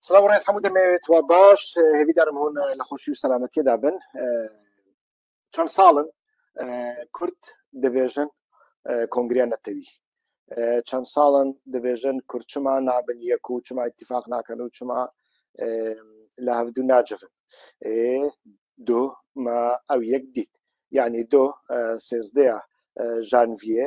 سلااو ڕێز هەموو دەمەوێت وە باش هێویدارم هۆن لە خۆشی و سەلامەتیدا بن چەند ساڵن کورد دەبێژن کۆنگریان نەتەوی چەند ساڵن دەبێژن کورچما نابن یەک و چما اتفاق ناکەن و چما لە هەفتدو ناجرن دو ما ئەو یەک دیت یعنی دو سێزدەیە ژانڤە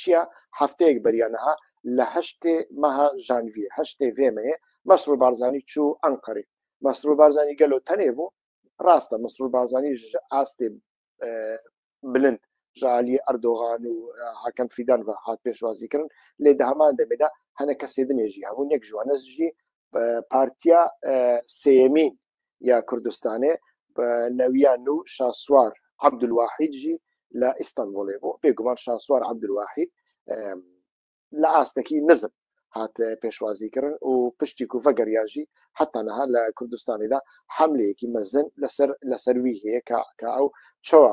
چیە هەفتەیەک بەریا نها لە هەشتێ مەها ژانڤیە هەشتێ ڤێ مەێ مەسرور بارزانی چوو ئەنقەرێ مەسرور بارزانی گەلۆ تەنێ بوو ڕاستە مەسرور بارزانی ئاستێ بلند ژالی ئەردۆغان و حکەم فیدان و هات پێشوازی کردن لێ دە هەمان دەمێدا هەنە کەسێ دنێژی هەبوو نەک ژوانەژی پارتیا سێیەمین یا کوردستانێ نەویان و شاسوار عبدالواحید ژی لە ئیستانبولێ بۆ بێگومان شاسوار عبدالواحید لە ئاستەکی نزم هات پێشوازی کردن و پشتی کوفە گەریاژی حتا نەها لە کوردستانیدا حملەیەکی مەزن لەسەر لەسەروی هەیە کە ئەو چوە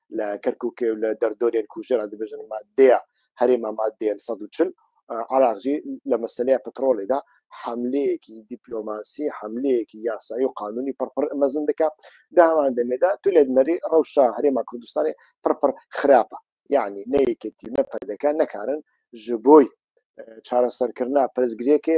لە کەرکوکێ و لە دەردۆرێن کوژرا دەبێژن مادەیە هەرێمە مادەیە 140 عراقجی لە مەسلەیە پترۆلێدا حملەیەکی دیپلۆماسی حملەیەکی یاسایی و قانونی پڕپڕ مەزن دەکە داوان دەمێدا تو لێت مەری ڕەوشە هەرێما کوردستانی پڕپڕ خراپە یعنی نەیەکێتی نە پەدەکە نەکارن ji بۆی چارەسەرکردنا پرسگرێکێ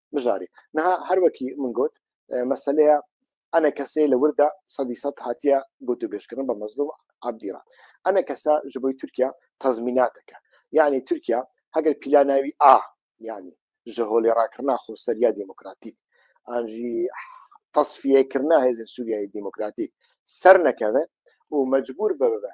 بژاری نها هەروەکی من گوت مەسلەیە ئەە کەسەیە لە وردە سەدی سە هااتە گوت و بێشکردن بە مەزلوم عبدیرا ئەە کەسە ji بۆی تورکیا تەزمیناتەکە یعنی تورکیا هەگەر پیلاناوی ئا ینی ji هۆلی ڕاکردنا خۆسەریا دیموکراتیک ئاژی تەصفیەکردنا هێزن سووریایی دیموکراتیک سەر نەکەوێت و مەجبور ببە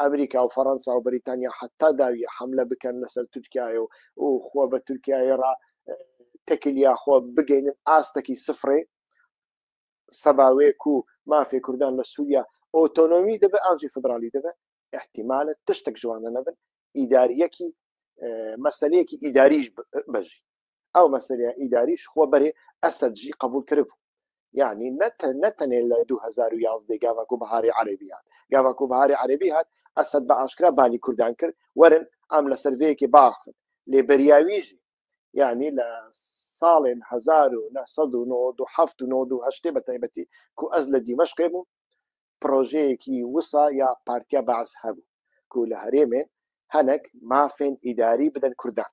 ئەمریکا و فەڕەنسا و بەریتانیا حەتا داویە حەملە بکەن لەسەر تورکایە و و خۆ بە تورکایە ڕا تەکلیا خۆ بگەینن ئاستەکی سفرێ سەباوێک و مافێ کوردان لە سووریا ئۆتۆنۆمی دەبێت ئاجی فدرالی دەبێت احتیمالە تشتێک جوانە نەبن ئیداریەکی مەسلەیەکی ئیداریش بەژی ئەو مەسەریە ئیداریش خۆ بەرێ ئەسەدژی قبول کرد بوو یعنی نەتە نەتەنێ لە 2011 گاواکو بەهاری عەربی هات گاواکو بەهاری عەربی هات ئەسد بە ئاشکرا بالی کوردان کرد وەرن ئەم لە سەرێکی باخن لێ بەریاویژی یعنی لە ساڵێن 1970 بە تایبەتی کو ئەز لە دیمەشقێ بوو پرۆژەیەکی وسا یا پارتیا باز هەبوو کو لە هەرێمێ هەنک مافێن ئیداری بدەن کوردان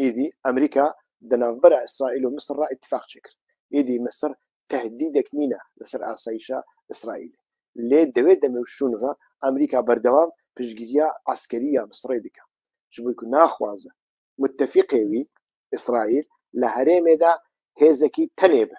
ئیدی ئەمریکا دە ناڤبەرا ئیسرائیل و میسر ڕا ئیتفاق چێ کرد ئیدی میسر تەهدیدەک نینە لە سەر ئاسایشە ئیسرائیل لێ دەێ دە مێ و شوون ڤە ئەمریکا بەردەوام پشتگیریا عەسکەری یا میسڕێ دکا چبوی ک ناخوازە متفیقێ وی ئیسرائیل لە هەرێمێ دا هێزەکی تەنێ بە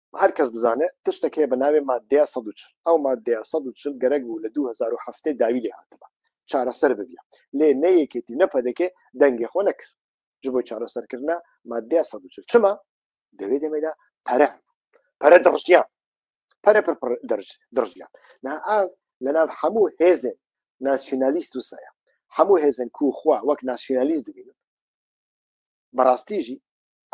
هەر کەس دزانێ تشتەک هەیە بە ناوێ مادەیە سەد و چل ئەو مادەیە سەد و چل گەرەک بوو لە دوو هەزار و حەفتەی داوی لێ هاتبا چارەسەر ببیە لێ نە یەکێتی نە پەدەکێ دەنگێ خۆ نەکرد ji بۆی چارەسەرکردە مادەیە سەد و چل چما دەوێ دەمێدا پەرە پەرە دڕژیان پەرە پر پر دەرج دڕژیان نا ئا لە ناو هەموو هێزێن ناسیۆنالیست و سەیە هەموو هێزن کو خوا وەک ناسیۆنالیست دبینن بەڕاستیژی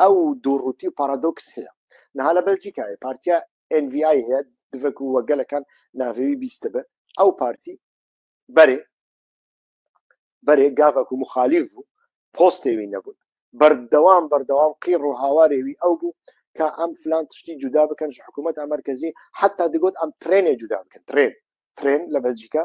ئەو دوو ڕووتی و پارادۆکس هەیە نها لە بەلجیکایە پارتیا NVI هەیە دڤک و وەگەلەکان ناوێوی بیستە بێ ئەو پارتی بەرێ بەرێ گاڤک و مخالیف بوو پۆستێوی نەبوون بەردەوام بەردەوام قیڕ و هاوارێوی ئەو بوو کە ئەم فلان تشتی جودا بکەن حکوومەت ئەمەرکەزی حتا دەگوت ئەم ترێنێ جودا بکەن ترێن ترێن لە بەلجیکا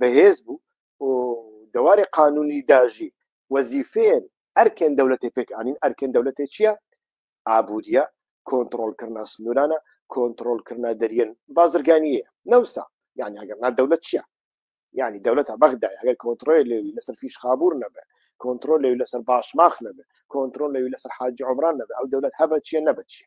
بەهێز بوو و دەوارێ قانونی داژی وەزیفێن ئەرکێن دەولەتێ پێک ئاین ئەرکێن دەولەتێ چییە ئابوووریە کۆنتترۆلکردنا سنوورانە کۆنتترۆلکردنا دەریێن بازرگانیە نەوسا یعنی ئەگەر نا دەولەت چییە یعنی دەولەتە بەغدا ئەگەر کۆنتترۆل لێوی لەسەر فیش خابور نەبێ کۆنتترۆل لەوی لەسەر باشماخ نەبێ کۆنتترۆل لەوی لەسەر حاجی عمران نەبێ ئەو دەولەت هەبە چیە نەبەت چیە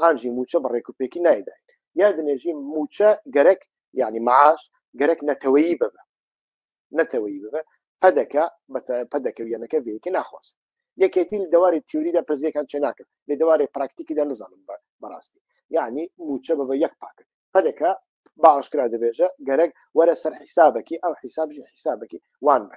ئانژی موچە بە ڕێک و پێکی نایداین یا دنێژی موچە گەرەک یعنی معاش گەرەک نەتەوەیی ببە نەتەوەیی ببە پەدەکە پەدەکە ویەنەکە وێکی ناخواست یەکێتی دەواری تیوریدا پرزیەکان چێ ناکرد لە دەواری پراکتیکیدا نزانم بە بەڕاستی یعنی موچە بە بە یەک پاکت پەدەکە باشکرا دەبێژە گەرەک وەرە سەر حیسابەکی ئەو حیسابژی حیسابەکی وان بە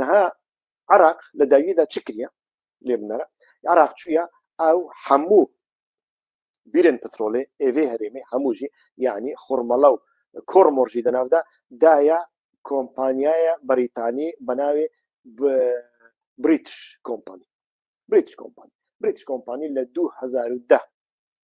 نها عراق لە داویدا چ کریە لێ بنەرە عراق چویە ئەو هەموو بیرن پترۆلێ ئێێ هەرێمی هەمووژی یعنی خورمەڵە و کۆڕ مۆرژی دەناودا دایە کۆمپانیایە بەریتانی بەناوێ بریتش کۆمپانی بریتش کۆمپانی بریتش کۆمپانی لە 2010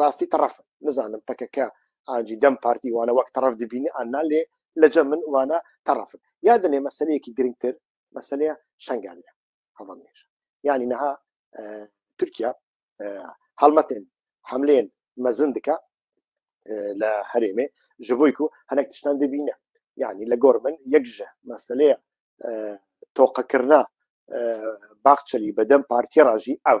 ڕاستی تەڕەف نزانم پەکەکە ئاجی دەم پارتی وانە وەک تەڕەف دبینی ئانا لێ لەجە من وانە تەڕەفن یا دەێ مەسلەیەکی گرنگتر مەسلەیە شنگالە هەڵم نێژ یعنی نەها تورکیا هەڵمەتێن حملێن مەزن دکە لە هەرێمێ ji بۆی و هەنێک تشتان دەبینە یعنی لە گۆر من یەکژە مەسلەیە تۆقەکردنا باخچەلی بەدەم پارتی ڕژی ئەو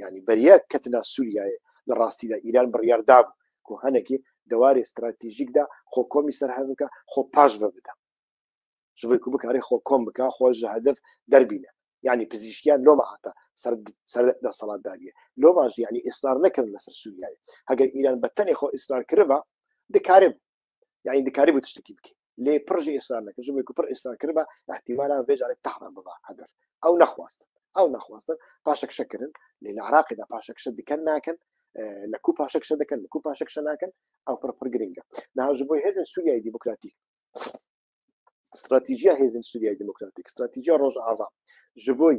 یعنی بەریە کەتنا سوریایە لە ڕاستیدا ئیران بڕیار دابوو کو هەنەکی دەوارێ ستراتیژیکدا خۆ کۆمی سەرهەڤکە خۆ پاش بە بدە شبێکو بکارێ خۆ کۆم بکە خۆ ژە هەدەف دەربینە یعنی پزیشکیان لۆ مەعاتە سەر سەر دەسەڵاتداریە لۆ ماش یعنی ئیسرار نەکردن لەسەر سوریایە هەگەر ئیران بە تەنێ خۆ ئیسرار کردبا دکارێ یعنی دکاری بوو تشتێکی بکە لێ پرژی ئێسان نەکە ژبێک و پڕ ئێسان کردبا احتیمالا بێجارێک تەحران ببا هەدەر ئەو نەخواست ئەو نەخواستن پاشەکشەکردن لە لە عراقیدا پاشەکشە دکەن ناکەن لە کو پاشەکشە دەکەن لە کو پاشەکشە ناکەن ئەو پڕ پڕ گرنگە ناژ بۆی هێزن سووریای دیموکراتیک استراتیژیا هێزن سووریای دیموکراتیک استراتیژیا ڕۆژ ئاوا ji بۆی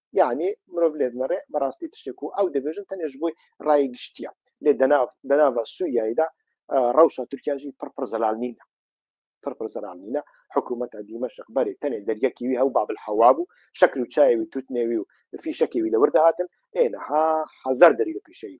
یعنی مرۆڤ لێت نەڕێ بەڕاستی تشتێک و ئەو دەبێژن تەنێش بۆی ڕای گشتیە لێ دەناو دەناوە سووریایدا ڕەوشە تورکیاژی پڕپڕ زەلال نینە پڕپڕ زەلال نینە حکوومەتە دیمەشق بەرێ تەنێ دەریەکیوی هەو بابل حەوا بوو شەکر و چاوی توتنێوی و فیشەکیوی لەوەر دەهاتن ئێنەها حەزار دەری لە پیشەی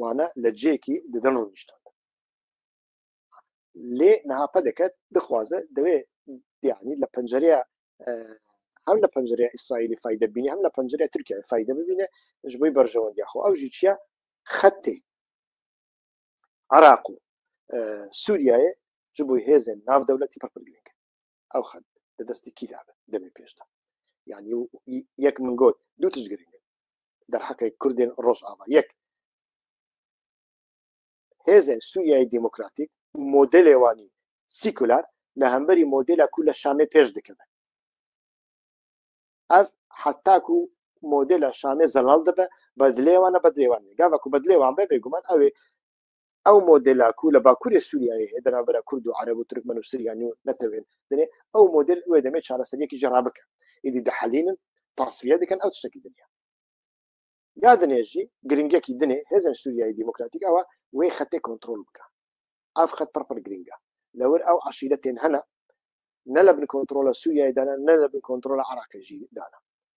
وانە لە جێکی ددن ڕونیشتان لێ نهاپە دەکەت دخوازە دەوێ دیانی لە پەنجەرەیە هەم لە پەنجەرە ئیسرائیلی فیدە بینی هەم لە پەنجەرە ترکیا فیدە ببینێ ژ بۆی بەرژەوەندی خۆ ئەوژی چیە خەتی عراق و سووریایە ژ بووی هێزن ناو دەولەتی پڕپگرنگ ئەو خەت لە دەستی کیدا بێت دەمی پێشدا یعنی و یەک من گۆت دوو تش گرنگ دەرحەقی کوردێن ڕۆژاوا یەک هێزێن سووریای دیموکراتیک و مۆدلێوانی سیکولار لە هەمبەری مۆدلە کو لە شامێ پێش دکەن ئەف حتاکو و مۆدلە شامێ زەڵال دەبە بەدلێوانە بەدلێوان گاوەکو بەدلێوان بێ بێگومان ئەوێ ئەو مۆدلاکو لە باکووری سووریای هەیە دەنا بەرە کورد و عرب و ترکمن و سریانی و نەتەوێن دێ ئەو مۆدل وێ دەمێت چارەسەریەکی جێڕا بکە ئیدی دەحەلینن تاسفە دەکەن ئەو شتێکی دنیا یا دنێژی گرنگێکی دنێ هێزن سووریای دیموکراتیک ئەوە وێ خەتێ کۆنتترۆل بکە ئاف خەت پڕپڕ گرنگە لەوەر ئەو عشیرە تێن هەنا نە لە بن کۆنتترۆلە سووریای دانا نە لە بن کۆنتترۆلە عراقێژی دانا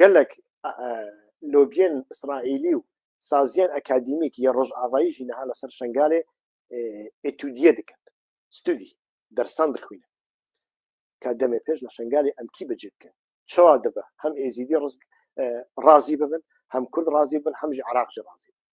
گەلەک لۆبیێن ئیسرائیلی و سازیان ئەکادیمیک یە ڕۆژ ئاوایی ژینەها لەسەر شنگالێ ئتودیە دکن ستودی دەرسان دخوینە کا دەمێ پێش لە شنگالی ئەمکی بەجێ بکەن چوا دەبە هەم ئێزیدی ڕزگ ڕازی ببن هەم کورد ڕازی بن هەمژی عراقژ ڕازی بن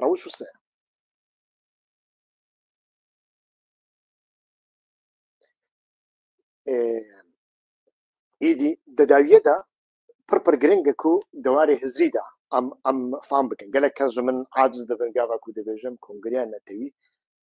ڕەوش و سەیە ئیدی دەداویەدا پڕپڕ گرنگە و دەوارێ هزریدا ئەم ئەم فام بکەن گەلە کەژ من عادز دەبن گاواکو دەبێژم کۆنگریان نەتەوی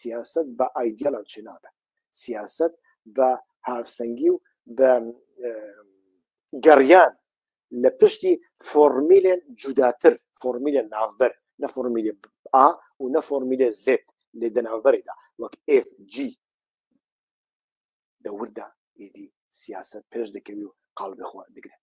سیاسەت بە ئایدیال ئەو چێنابێت سیاسەت بە هاوسەنگی و بە گەڕیان لە پشتی فۆرمیلێن جوداتر فۆرمیلە ناوبەر نە فۆرمیلێ ئا و نە فۆرمیلێ زێت لێ دەناوبەرێدا وەک FG دەوردا ئیدی سیاست پێش دەکەوی و قاڵبخوا دەگرێت